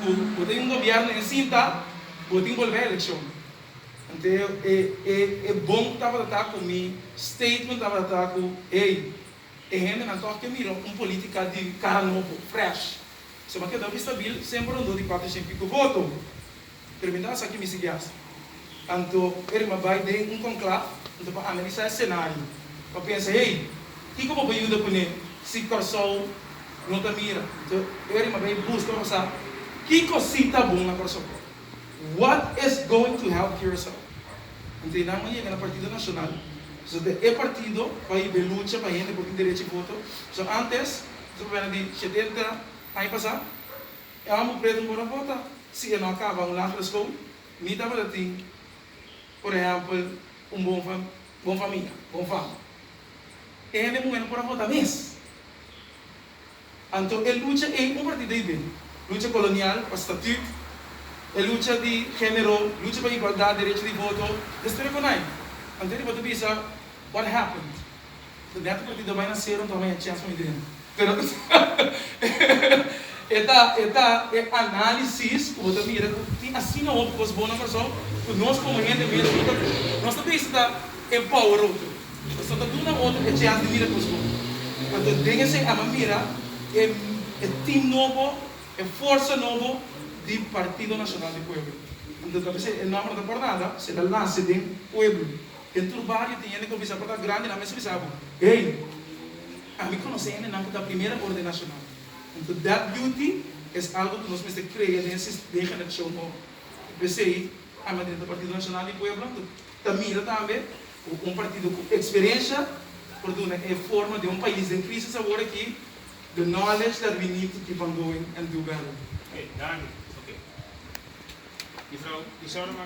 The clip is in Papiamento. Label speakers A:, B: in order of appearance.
A: Cu bo tin un gobierno en cinta, bo tin bolbe eleccion. Anto e bon tabata ta cu mi statement tabata ta cu, ey, e hendenan toch ke mira un politica di cara nobo, fresh. Suma ke Dobie Stabiel semper rondó di cuatro cien y pico voto. Pero mi tabata sa ki mi sigui hasi. Anto e rima bai den un konklaf anto pa analisá e senario, pa pensa, Hey, kiko bo por yuda kuné si Kòrsou no ta mira? Anto e rima bai buska pa sa kiko sí ta bon na Kòrsou por. What is going to help Curaçao? Anto e nan a yega na Partido Nashonal, pasobra e partido bai yiba e lucha pa hende por tin derechi voto. So, antes, nos a papia nan di shetenta aña pasá, E homber preto no por a bota si e no a caba un lager school ni tabata tin, por ehempel, un bon bon famia, bon fama. E hende muher no por a bota mes. Anto e lucha ey un partida di bin, lucha colonial pa statut, e lucha di genero, lucha pa igualdad, derecho di voto, destroy con ai. Anto e di bota bisa what happened? So dènter por tita bai na sero ntaba ya chèst mei dènter. Pero e ta e ta e análisis ku bo ta mira ku tin asina hopi kos bon na kurason ku nos komo hende mes no ta nos ta bisa ta empower otro. Nos no ta duna otro e chèns di mira kos bon. Anto den esei a mi a mira e e tim nobo, e forsa nobo di Partido Nacional di Pueblo. Anto ta p'esei e nòmber no ta por nada, se ta lase den pueblo. E tur bario tin hende ku a bisa pa ta grandi nan mester bisa bo, Hey, ami konosé hende nan ku ta primera orde nashonal. Huntu dat beauty es algu ku nos mester krea den e den generashon ora. I p'esei ami a drenta Partido Nashonal di Pueblo huntu ta mira tambe ku un partido ku eksperensha por duna e forma den un pais den krisis awor aki, the knowledge that we need to keep on going and do better.
B: Oké, Dani. Oké. Juffrouw
A: Isaura.